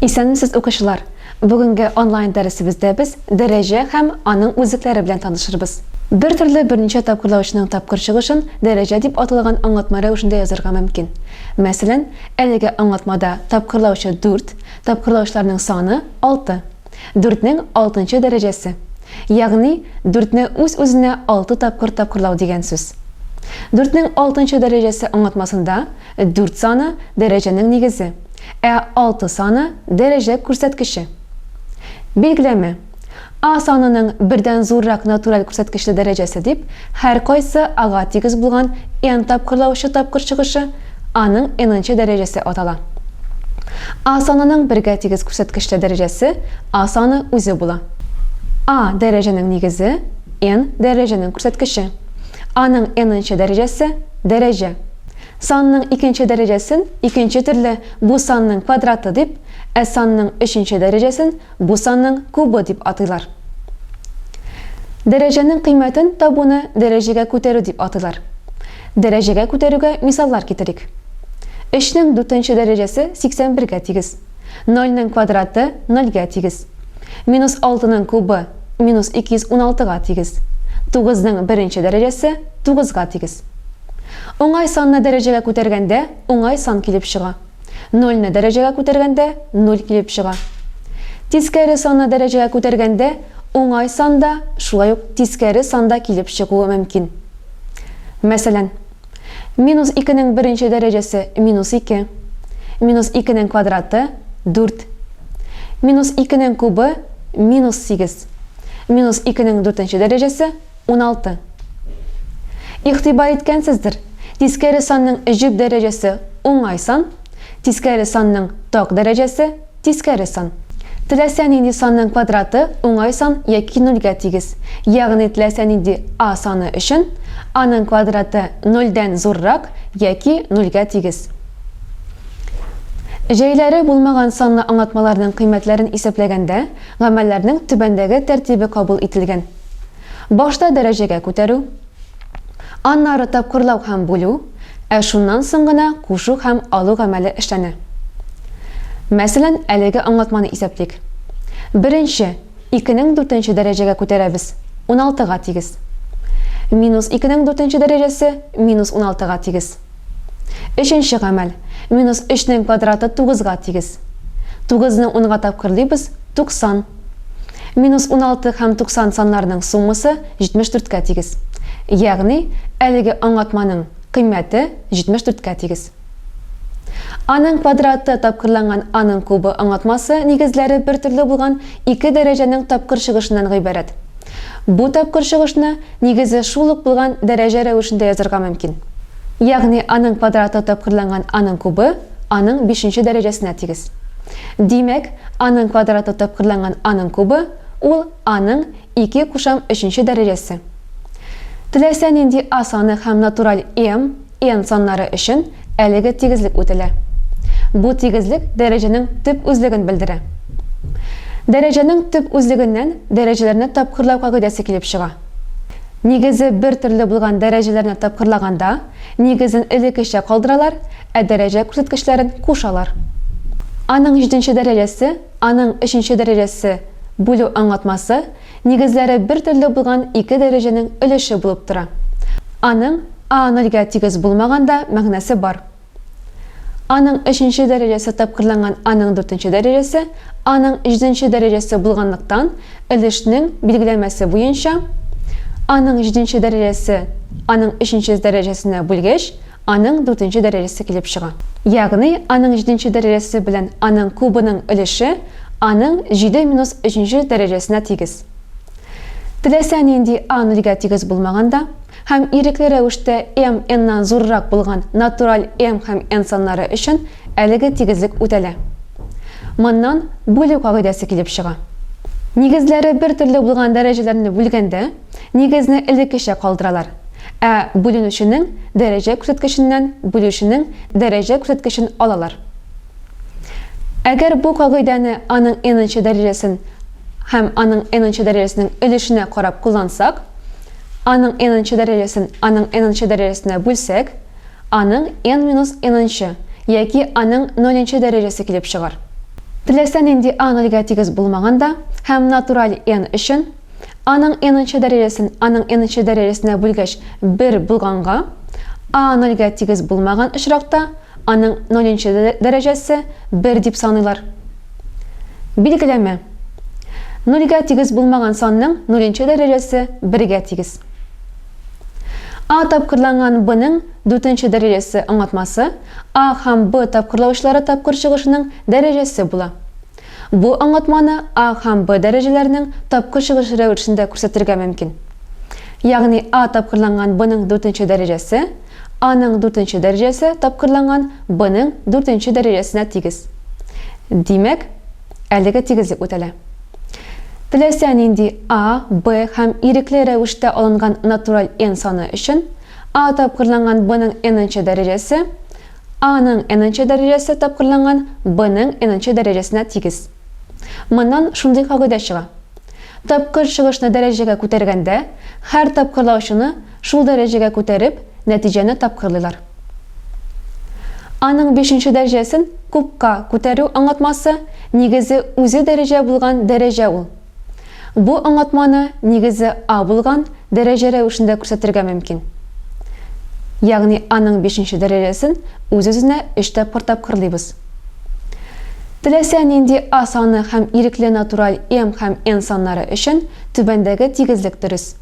Исәнмесез укучылар! Бүгенге онлайн дәресебездә без дәрәҗә һәм аның үзлекләре белән танышырбыз. Бер төрле берничә тапкырлаучының тапкыр чыгышын дәрәҗә дип аталган аңлатма рәвешендә язырга мөмкин. Мәсәлән, әлеге аңлатмада тапкырлаучы дүрт, тапкырлаучыларның саны, алты. Дүртнең алтынчы дәрәҗәсе. Ягъни, дүртне үз-үзенә алты тапкыр тапкырлау дигән сүз. Дүртнең алтынчы дәрәҗәсе аңлатмасында Дүрт саны, дәрәҗәнең нигезе. Ә алты саны, дәрәҗә күрсәткече. Билгеләмә. А санының бердән зуррак натураль күрсәткечле дәрәҗәсе дип, һәркайсы ага тигез булган n тапкырлаучы тапкыр чыгышы, аның n-нче дәрәҗәсе атала. А санының бергә тигез күрсәткечле дәрәҗәсе А саны үзе була. А, дәрәҗәнең нигезе, n, дәрәҗәнең күрсәткече. Аның n-нче дәрәҗәсе, дәрәҗә. Санның икенче дәрәҗәсен икенче төрле бу санның квадраты дип, ә санның өченче дәрәҗәсен бу санның кубы дип атыйлар. Дәрәҗәнең кыйммәтен табуны дәрәҗәгә күтәрү дип атыйлар. Дәрәҗәгә күтәрүгә мисаллар китерик. Өчнең дүртенче дәрәҗәсе сиксән бергә тигез. Нольнең квадраты нольгә тигез. Минус алтының кубы минус 216 га тигез. Тугызның беренче дәрәҗәсе тугызга тигез. Уңай санны дәрәҗәгә күтәргәндә уңай сан килеп чыга. Нольне дәрәҗәгә күтәргәндә нуль килеп чыга. Тискәре санны дәрәҗәгә күтәргәндә уңай сан да, шулай ук тискәре сан да килеп чыгуы мөмкин. Мәсәлән. Минус икенең беренче дәрәҗәсе минус ике. Минус икенең квадраты, дүрт. Минус икенең кубы, минус сигез. Минус икенең дүртенче дәрәҗәсе, уналты. Игътибар иткәнсездер, тискәре санның җөп дәрәҗәсе, уңай сан, тискәре санның ток дәрәҗәсе, Тискәре сан. Теләсә нинди санның квадраты уңай сан яки нольгә тигез. Ягъни теләсә нинди a саны өчен аның квадраты нольдән зуррак яки нольгә тигез. Җәйләре булмаган санлы аңлатмаларның кыйммәтләрен исәпләгәндә гамәлләрнең түбәндәге тәртибе кабул ителгән. Башта дәрәҗәгә күтәрү. Аннары тапкырлау һәм бүлү, ә шуннан соң гына кушу һәм алу гамәле эшләнә. Мәсәлән, әлеге аңлатманы исәплик. Беренче, икенең дүртенче дәрәҗәгә күтәрәбез, уналтыга тигез. Минус икенең дүртенче дәрәҗәсе минус уналтыга тигез. Өченче гамәл. Минус өчнең квадраты тугызга тигез. Тугызны унга тапкырлыйбыз, туксан. Минус уналты һәм туксан саннарының суммасы җитмеш дүрткә тигез. Ягъни, әлеге аңлатманың кыйммәте җитмеш дүрткә тигез. Аның квадраты тапкырланган аның кубы аңлатмасы нигезләре бертөрле булган ике дәрәҗәнең тапкыр чыгышыннан гыйбарәт. Бу тапкыр чыгышны, нигезе, шул ук булган дәрәҗә рәвешендә язырга мөмкин. Ягъни аның квадраты тапкырланган аның кубы аның бишенче дәрәҗәсенә тигез. Димәк, аның квадраты тапкырланган аның кубы, ул аның ике кушам өченче дәрәҗәсе. Теләсә нинди А саны һәм натураль m, n саннары өчен әлеге тигезлек үтәлә. Бу тигезлек дәрәҗәнең төп үзлеген белдерә. Дәрәҗәнең төп үзлегеннән дәрәҗәләрне тапкырлау кагыйдәсе килеп чыга. Нигезе бер төрле булган дәрәҗәләрне тапкырлаганда, нигезен элеккечә калдыралар, ә дәрәҗә күрсәткечләрен кушалар. Аның җиденче дәрәҗәсе, аның өченче дәрәҗәсе, бүлү аңлатмасы, Нигезләре бертөрле булган ике дәрәҗәнең өлеше булып тора. Аның а-нольгә тигез булмаганда мәгънәсе бар. А-ның өченче дәрәҗәсе тапкырланган а-ның дүртенче дәрәҗәсе, а-ның җиденче дәрәҗәсе булганлыктан, өлешнең билгеләмәсе буенча, а-ның җиденче дәрәҗәсе а-ның өченче дәрәҗәсенә бүлгеч, аның дүртенче дәрәҗәсе килеп чыга. Ягъни аның җиденче дәрәҗәсе белән аның кубының өлеше аның җиде минус өченче дәрәҗәсенә тигез. Теләсә нинди a нольгә тигез булмаганда һәм ирекле рәвештә m n-нан зуррак булган натураль m һәм n саннары өчен әлеге тигезлек үтәлә. Моннан бүлү кагыйдәсе килеп чыга. Нигезләре бертөрле булган дәрәҗәләрне бүлгәндә, Нигезне элеккечә калдыралар. Ә бүленүченең дәрәҗә күрсәткеченнән бүлүченең дәрәҗә күрсәткечен алалар. Әгәр бу кагыйдәне аның n-нчы дәрәҗәсен һәм аның n-нчы дәрәҗәсенең өлешенә карап куллансак, аның n-нчы дәрәҗәсен аның n-нчы дәрәҗәсенә бүлсәк, аның n минус n-нчы яки аның ноль-нчы дәрәҗәсе килеп чыгар. Теләсә нинди a нольгә тигез булмаган да һәм натураль n өчен, Аның n-нчы дәрәҗәсен аның n-нчы дәрәҗәсенә бүлгәч, 1 булганга, a 0 гә тигез булмаган очракта, аның ноль-нчы дәрәҗәсе 1 дип саныйлар. Билгеләмә. Нульгә тигез булмаган санның ноль-нчы дәрәҗәсе бергә тигез. A тапкырланган b-ның дүртенче дәрәҗәсе аңлатмасы a һәм b тапкырлаучылары тапкыр чыгышының дәрәҗәсе була. Бу аңлатманы А һәм Б дәрәҗәләренең тапкыр чыгышы рәвешендә күрсәтергә мөмкин. Ягъни А тапкырланган Бның дүртенче дәрәҗәсе Аның дүртенче дәрәҗәсе тапкырланган Бның дүртенче дәрәҗәсенә тигез. Димәк, әлеге тигезлек үтәлә. Теләсә нинди А, Б һәм ирекле рәвештә алынган натураль n саны өчен, А тапкырланган Бның n-нче дәрәҗәсе А-ның n-нче дәрәҗәсе тапкырланган b-ның n-нче дәрәҗәсенә тигез. Моннан шундый кагыйдә чыга. Тапкыр чыгышны дәрәҗәгә күтәргәндә, һәр тапкырлаучыны шул дәрәҗәгә күтәреп, нәтиҗәне тапкырлыйлар. А-ның бишенче дәрҗәсен кубка күтәрү аңлатмасы нигезе үзе дәрәҗә булган дәрәҗә ул. Бу аңлатманы, нигезе, А булган дәрәҗә рәвешендә күрсәтергә мөмкин. Ягъни Аның бишенче дәрәҗәсен үз-үзенә өч тапкыр тапкырлыйбыз. Теләсә нинди А саны һәм ирекле натураль m һәм n саннары өчен түбәндәге тигезлек дөрес.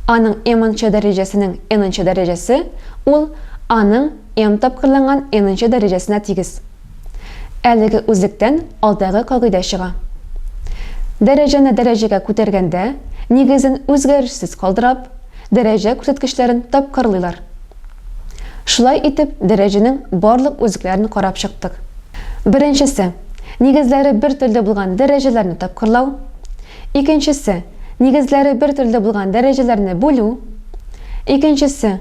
Аның m нчы дәрәҗәсенең n нчы дәрәҗәсе ул Аның m тапкырланган n нчы дәрәҗәсенә тигез. Әлеге үзлектән алдагы кагыйдә чыга. Дәрәҗәне дәрәҗәгә күтәргәндә, нигезен үзгәрешсез калдырап, дәрәҗә күрсәткечләрен тапкырлыйлар. Шулай итеп, дәрәҗәнең барлык үзлекләрен карап чыктык. Беренчесе, нигезләре бер төрле булган дәрәҗәләрне тапкырлау. Икенчесе, нигезләре бер төрле булган дәрәҗәләрне бүлү. Икенчесе,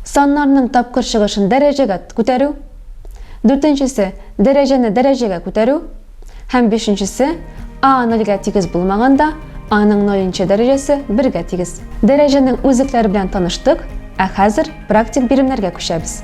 саннарның тапкыр чыгышын дәрәҗәгә күтәрү. Дүртенчесе, дәрәҗәне дәрәҗәгә күтәрү. Һәм бишенчесе, А нольгә тигез булмаганда, Аның нолинче дәрәҗәсе бергә тигез. Дәрәҗәнең үзлекләре белән таныштык, ә хәзер практик биремнәргә күчәбез.